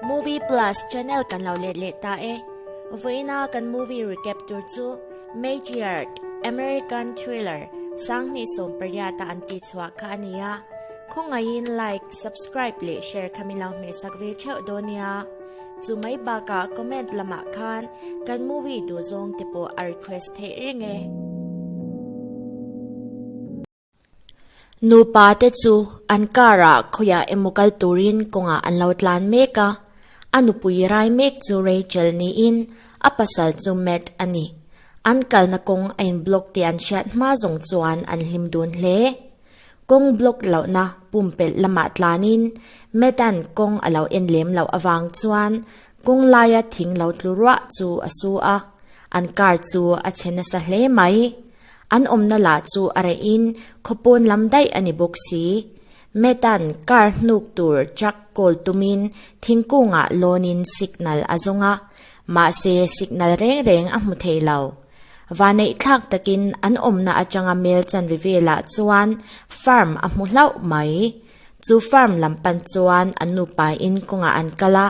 Movie Plus channel kan lo let leh ta e. Vawiin a kan movie recap tur chu Matriarch American Thriller sang hnih sawm pariat a an tih chhuah kha a ni a. Khawngaihin like, subscribe leh share kha min lo hmehsak ve theuh dawn nia. Chu mai bakah comment lamah khan kan movie duh zawng te pawh a request theih reng e. Nupa te chu an car ah khawiah emaw kal turin kawngah an lo tlan mek a, a nupui rai mek chu Rachel niin a pasal chu Matt a ni. An kalna kawng a in block tih an hriat hma zawng chuan an hlim dun hle. Kawng block lohna pumpelh lamah tlanin Matt-a'n kawng a lo en lem loh avang chuan kawng laia thing lo tlu ruah chu a su a, an car chu a che nasa hle mai. An awmna lah chu a reh in khaw pawn lam daih a ni bawk si. Matt-a'n car hnuk tur truck call tum in thingkungah lawn in signal a zawng a, mahse signal reng reng a hmu thei lo. Vaneih thlak takin an awmna atanga mel chanri velah chuan farm a hmu hlauh mai. Chu farm lam pan chuan a nupa in kawngah an kal a,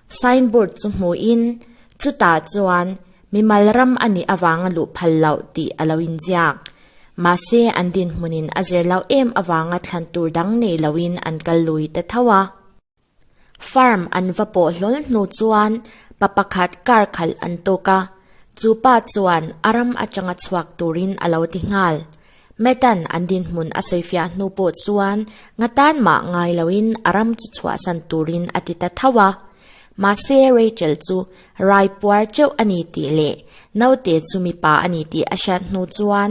Sign board chu hmuh in chutah chuan mimal ram a nih avang a luh phal loh tih a lo inziak. Mahse an dinhmun in a zer loh em avanga thlan tur dang nei lo in an kal lui ta tho a. Farm an va pawh hlawl hnu chuan pa pakhat car khalh an tuk a, chu pa chuan a ram atanga chhuak turin a lo ti nghal. Matan an dinhmun a sawifiah hnu pawh chuan nga tan mah ngai loin a ram chu chhuahsan turin a ti ta tho a. Mahse Rachel chu rai puar teuh a ni tih leh naute chu mipa a ni tih a hriat hnu chuan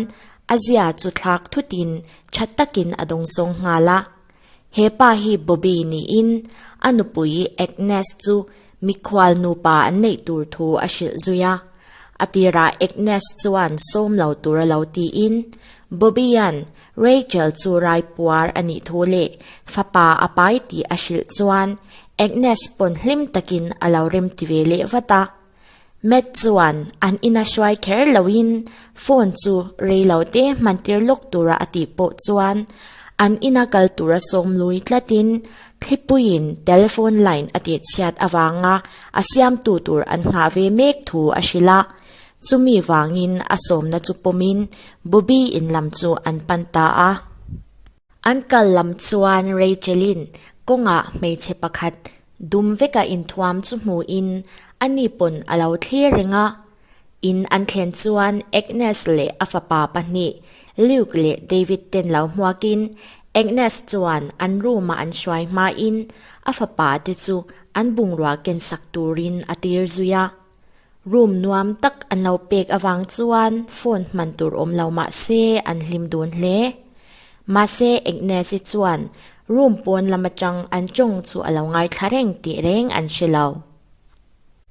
a zia chu thlak thutin tha takin a dawng sawng nghal a. He pa hi Bobby niin a nupui Agnes chu mikhual nupa an neih tur thu a hrilh zui a. A tirah Agnes chuan sawm lo tur a lo tiin, Bobby-a'n Rachel chu raipuar a nih thu leh fapa a pai tih a hrilh chuan Agnes pawn hlim takin a lo remti ve leh vat a. Matt chuan an ina hruai kher loin phone chu rei lo te hman tir lawk tura a tih pawh chuan an ina kal tura sawm lui tlatin Thlipuiin telephone line a tih chhiat avanga a siamtu tur an nghah ve mek thu a hrilh a. Chumi vangin a sawmna chu pawmin Bobby-in lam chu an pan ta a. An kal lam chuan Rachel-in kawngah hmeichhe pakhat dum veka inthuam chu hmuhin a ni pawn a lo thlir reng a. In an thlen chuan Agnes leh a fapa pahnih, Luke leh David ten lo hmuakin Agnes chuan an room-a an hruai hmain a fapa te chu an bungrua kensak turin a tir zui a. Room nuam tak an lo pek avang chuan phone hman tur awm lo mah se an hlim dun hle. Mahse Agnes-i chuan room pawn lam atang an tawng chu a lo ngaithla reng tih reng an hre lo.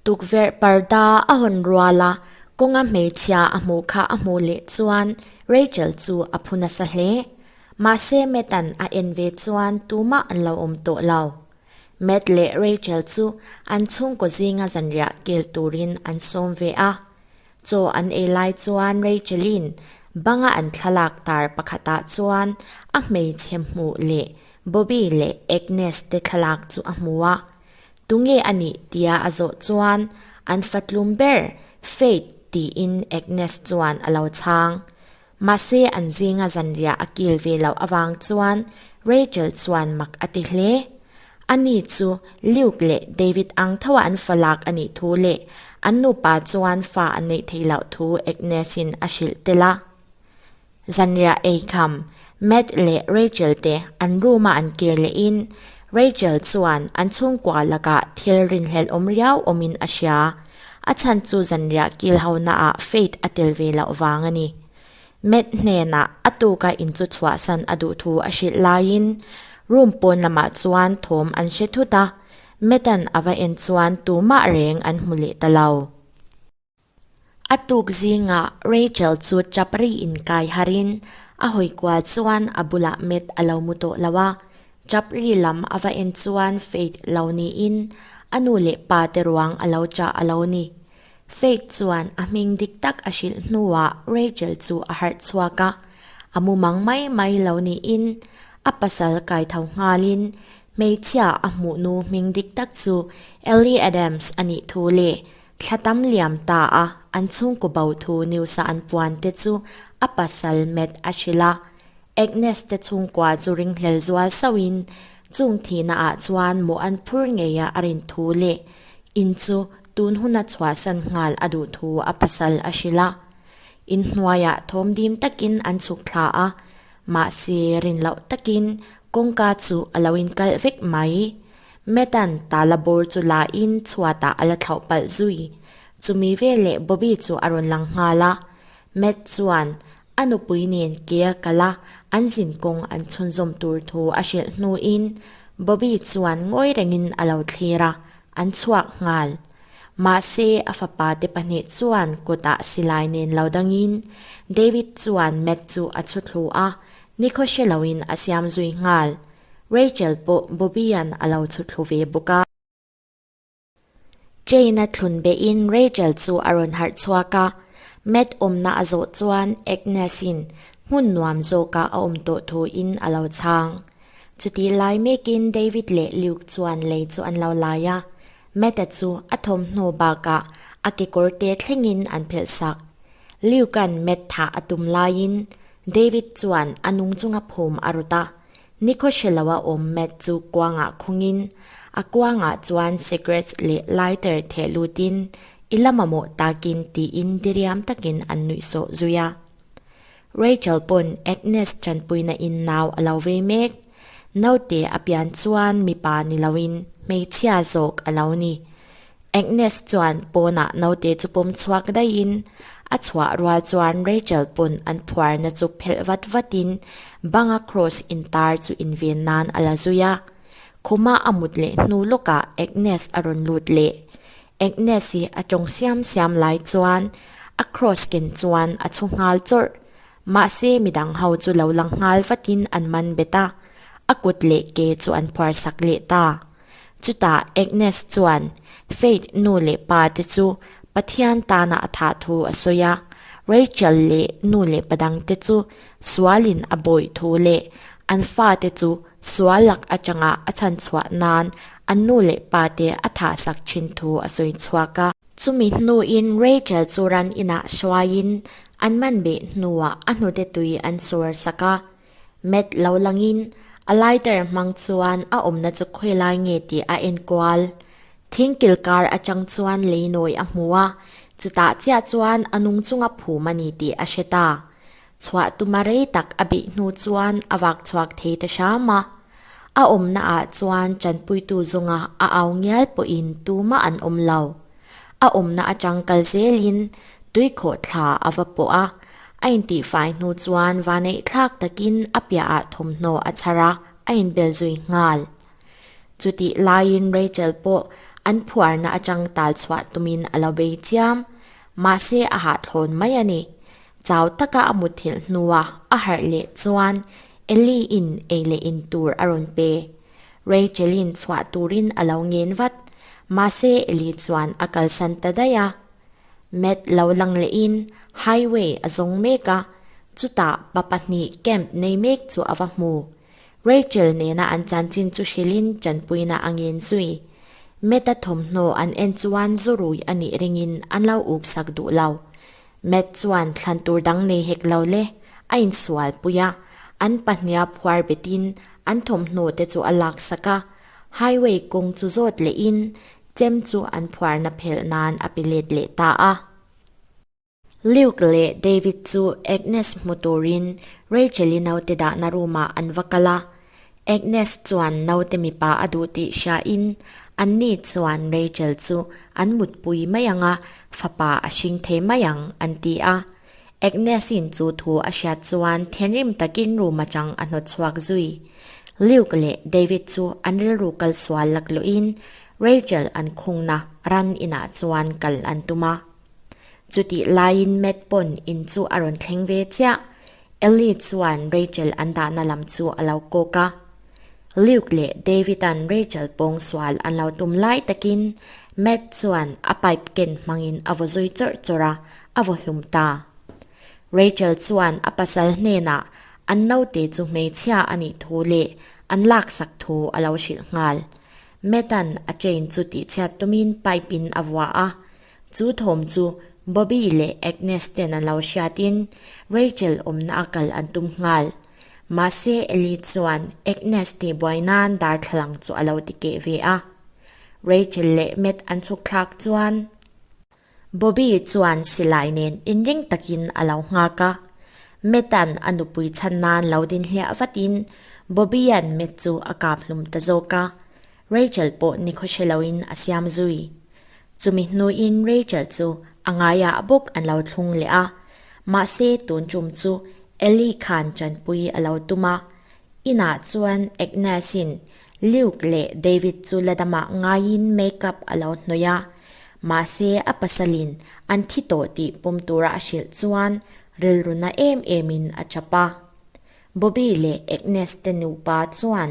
Tukverh parda a hawn rual a, kawnga hmeichhia a hmuh kha a hmuh leh chuan Rachel chu a phu nasa hle. Mahse Matt-an a en ve chuan tumah an lo awm tawh lo. Matt leh Rachel chu an chhungkaw zinga zanriah kel turin an sawm ve a. Chaw an ei lai chuan Rachel-in banga an thlalak tar pakhatah chuan a hmeichhe hmuh leh Bobby leh Agnes te thlalak chu a hmu a. Tunge a nih tia a zawh chuan an fatlum ber Faith tiin Agnes chuan a lo chhang. Mahse an zinga zanriah a kil ve loh avang chuan Rachel chuan mak a ti hle. Ani chu Luke leh David ang thoa an falak a nih thu leh an nupa chuan fa a neih theih loh thu Agnes-in a hrilh tel a. Zanriah ei kham Matt leh Rachel te an room-a an kir lehin Rachel chuan an chhungkua lakah thilrinhlelh awm riau awmin a hria. A chhan chu zanriah kilhona ah Faith a tel ve loh vang a ni. Matt hnenah a tuka in chu chhuahsan a duh thu a hrilh laiin room pawn lamah chuan thawm an hre thut a, Matt-a'n a va en chuan tumah reng an hmu leh ta lo. A tuk zingah Rachel chu chap ri in kai harhin a hawi kual chuan a bulah Matt a lo mu tawh lo a, Chapri lam a va en chuan Faith lo niin a nu leh pa te ruang a lo chah a lo ni. Faith chuan a hming dik tak a hrilh hnuah Rachel chu a harh chhuak a, a mumang mai mai lo niin a pasal kai tho nghalin hmeichhia a hmuh nu hming dik tak chu Ellie Adams a nih thu leh thla tam liam ta a an chhungkaw bo thu news-a an puan te chu a pasal met a hrilh a. Agnes te chhungkua chu ringhlel zual sauhin chung thihna ah chuan mawh an phur ngei a, a rin thu leh in chu tun huna chhuah san nghal a duh thu a pasal a hrilh a, in hnuaiah thawm dim takin an chhuk thla a, mahse rin loh takin kawngka chu a lo in kalh vek mai. Matt-a'n tala bawr chu la in chhuatah a la thlauh palh zui, chumi veleh Bobby chu a rawn lang nghal a, Matt chuan A nupui nen ke a kal a, an zin kawng an chhunzawm tur thu a hrilh hnuin Bobby chuan ngawi rengin a lo thlir a, an chhuak nghal. Mahse, a fapa te pahnih chuan kutah silai nen lo dangin David chuan Matt chu a chhu thlu a, nikhaw hre loin a siam zui nghal. Rachel pawh Bobby-a'n a lo chhu thlu ve bawk a. Jane-a thlun behin Rachel chu a rawn harh chhuak a. Matt awmna a zawh chuan Agnes-in hmun nuam zawkah a awm tawh thuin a lo chhang. Chutih lai mekin David leh Luke chuan lei chu an lo lai a. Matt-a chu a thawmhnaw bakah a kekawr te thlengin an phelh sak. Luke-a'n Matt thah a tum laiin David chuan a nung chunga phum a rawt a. Nico hre lo a awm Matt chu kuangah khungin a kuangah chuan cigarettes leh lighter theh lutin I la mamawh takin tiin diriam takin an nuih sawh zui a. Rachel pawn Agnes tanpuina in nau a lo vei mek. Naute a pian chuan mipa ni loin hmeichhia zawk a lo ni. Agnes chuan pawnah naute chu pawm chhuak daihin a chhuah rual chuan Rachel pawn an phuarna chu phelh vat vatin banga kraws intar chu inven nan a la zui a. Khuma a mut leh hnu lawkah Agnes a rawn lut leh. Agnes hi a tawng siam siam lai chuan a kraws ken chuan a chhu nghal chawrh. Mahse midang ho chu lo lang nghal vatin an man bet a, a kut leh ke chu an phuarsak leh ta. Chutah Agnes chuan Faith nu leh pa te chu Pathian tana a thah thu a sawi a, Rachel leh nu leh pa dang te chu sualin a bawih thu leh an fa te chu sual lak atanga a chhan chhuah nan an nu leh pa te a thah sak thin thu a sawi chhuak a. Chumi hnuin Rachel chu ran inah hruaiin an man beh hnuah a hnute tui an suar sak a, Matt lo langin a lighter hmang chuan a awmna chu khawi lai nge tih a enkual. Thing kilkar atang chuan lei nawi a hmu a, chutah chiah chuan a nung chunga phum a ni tih a hre ta. Chhuah tuma rei tak a beih hnu chuan a vak chhuak thei ta hram a. A awmna ah chuan tanpuitu zawnga a au ngial pawhin tuma an awm lo. A awmna a tangkal zelin tui khawh thla a va pawh a, a intihfai hnu chuan vaneihthlak takin a piahah thawmhnaw a chhar a, a inbel zui nghal. Chutih laiin Rachel pawh an phuarna atangtal chhuah tumin a lo bei chiam. Mahse a hahthlawn mai a ni. Chau taka a mutthilh hnua a harh leh chuan Ellie-in ei leh in tur a rawn pe. Rachel-in chhuah turin a lo ngen vat, mahse Ellie chuan a kalsan ta daih a. Matt lo lang lehin highway a zawng mek a, chutah pa pahnih camp nei mek chu a va hmu. Rachel nena an chanchin chu hrilhin chanpuina a ngen zui. Matt-a thawmhnaw an en chuan zu rui a nih rengin an lo uk sak duh lo. Matt chuan thlan tur dang nei hek lo le a insual pui a, an pahniha phuar betin an thawmhnaw te chu a lak sak a, highway kawng chu zawt leh in chem chu an phuarna phelh nan a pe let leh ta a. Luke leh David chu Agnes hmu turin Rachel-i naute dahna room ah an va kal a, Agnes chuan naute mipa a duh tih hriain an ni chuan Rachel chu an mutpui mai ang a, fapa a hring thei mai ang an ti a. Agnes-in chu thu a hriat chuan thinrim takin room atang a hnawt chhuak zui. Luke leh David chu an rilru kal sual lak luhin Rachel an khungna ran inah chuan kal an tum a. Chutih laiin Matt pawn in chu a rawn thleng ve chiah. Ellie chuan Rachel an dahna lam chu a lo kawk a. Luke leh David-a'n Rachel pawng sual an lo tum lai takin Matt chuan a pipe ken hmangin a vaw zui chawrh chawrh a, a vaw hlum ta. Rachel chuan a pasal hnenah an naute chu hmeichhia a nih thu leh an laksak thu a lo hrilh nghal. Matt-a'n a chain chu tihchhiat tumin pipe-in a vuah a, Chu thawm chu Bobby leh Agnes ten an lo hriatin Rachel awmna a kal an tum nghal. Mahse Ellie chuan Agnes tihbuai nan darthlalang chu a lo ti keh ve a. Rachel leh Matt an chhukthlak chuan Bobby chuan silai nen inring takin a lo nghak a. Matt-a'n a nupui chhan nan lo dinhliah vatin Bobby-a'n Matt chu a kap hlum ta zawk a. Rachel pawh ni khawhre loin a siam zui. Chumi hnuin Rachel chu a ngaiah bawk an lo thlung leh a, mahse tun tum chu Elly khan chanpui a lo tum a. Inah chuan Agnes-in Luke leh David chu la damah ngaiin make-up a lo hnawih a, mahse a pasalin an thi tawh tih pum tura a hrilh chuan rilru na em emin a chap a. Bobby leh Agnes te nupa chuan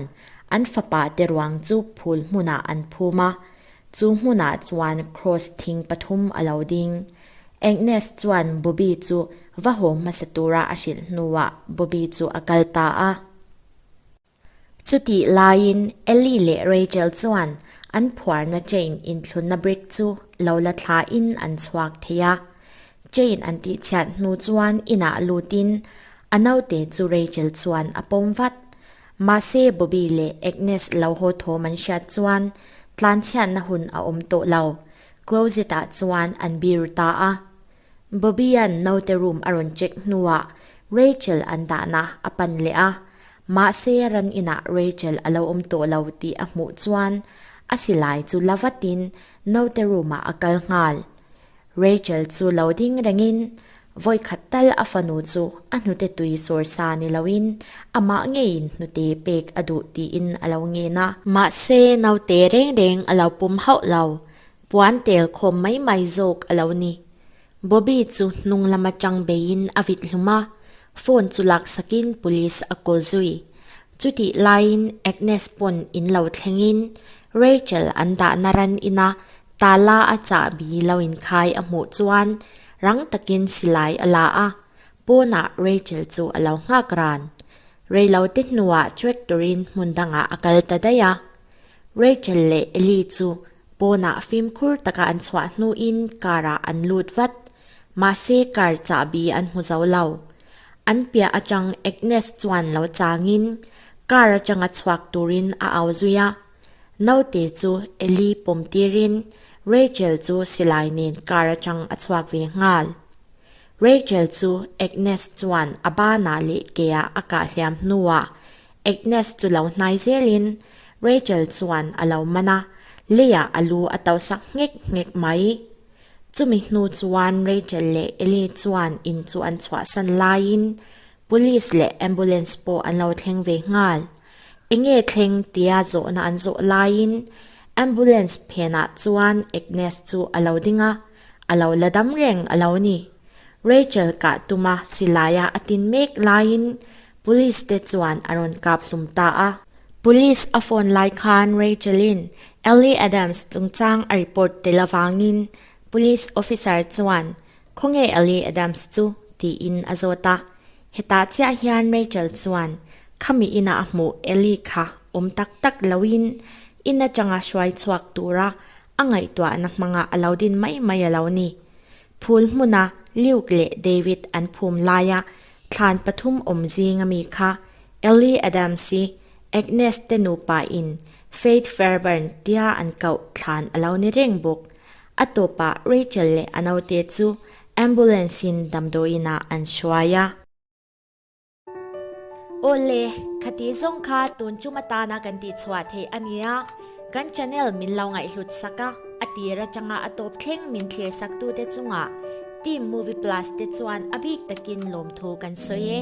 an fapa te ruang chu phul hmunah an phum a, chu hmunah chuan kraws thing pathum a lo ding. Agnes chuan Bobby chu va haw hmasa tura a hrilh hnuah Bobby chu a kal ta a. Chutih laiin Ellie leh Rachel chuan an phuarna chain inthlunna brick chu lo la thlain an chhuak thei a. Chain an tih chhiat hnu chuan inah lutin a naute chu Rachel chuan a pawm vat. Mahse Bobby leh Agnes lo haw thawm an hriat chuan tlan chhiatna hun a awm tawh lo. Closet ah chuan an bir ta a. Bobby-a'n naute room a rawn check hnuah Rachel an dahna a pan leh a. Mahse ran inah Rachel a lo awm tawh lo tih a hmuh chuan a silai chu la vatin naute room ah a kal nghal. Rachel chu lo ding rengin vawikhat tal a fanu chu a hnute tui sawr sa ni loin amah ngeiin hnute pek a duh tiin a lo ngen a. Mahse naute reng reng a lo pum hauh lo, puan tel khawm mai mai zawk a lo ni. Bobby chu hnung lama chang beiin a vit hlum a, Phone chu lak sakin Police a call zui. Chutih laiin Agnes pawn in lo thlengin Rachel an dahna ran ina Tala a chahbi lo inkhai a hmuh chuan rang takin silai a la a. Pawnah Rachel chu a lo nghak ran. Reilote hnuah tractor-in hmun dangah a kal ta daih a. Rachel leh Ellie chu Pawnah fimkhur taka an chhuah hnuin karah an lut vat. Mahse kar chahbi an hmu zo lo. An piah atang Agnes chuan lo changin kar atanga chhuak turin a au zui a. Naute chu Elly pawm tirin Rachel chu silai nen kar atang a chhuak ve nghal. Rachel chu Agnes chuan a bânah leh keiah a kah hliam hnuah Agnes chu lo hnai zêlin Rachel chuan a lo man a, Leia a lu a to sak nghek nghek mai. Chumi hnu chuan Rachel leh Eli chuan in chu an chhuahsan laiin Police leh Ambulance pawh an lo thleng ve nghal. Enge thleng tia zawhna an zawh laiin Ambulance phenah chuan Agnes chu a lo ding a, A lo la dam reng a lo ni. Rachel kah tuma silai a a tin mek laiin Police te chuan a rawn kap hlum ta a. Police a phone lai khan Rachel in Ellie Adams chungchang a report tel avangin Police Officer chuan Khawnge Ellie Adams chu? tiin a zawt a. Hetah chiah hian Rachel chuan khami inah a hmuh Ellie kha awm tak tak loin in atanga hruai chhuak tura A ngaihtuahna hmanga a lo din mai mai a lo ni. Phul hmuna Luke leh David an phum laia thlan pathum awm zing a mi kha Ellie Adams i Agnes te nupa in Faith Fairbairn tia an kauh thlan a lo ni reng bawk. A tawpah Rachel leh a naute chu ambulance in damdawiinah an hruai a. Aw le, khati zawng kha tun chum atana kan tih chhuah theih a nia, kan channel min lo ngaihhlut sak a, a tir atanga a tawp thleng min thlir saktute chungah Team Movie Plus te chuan a bik takin lawmthu kan sawi e.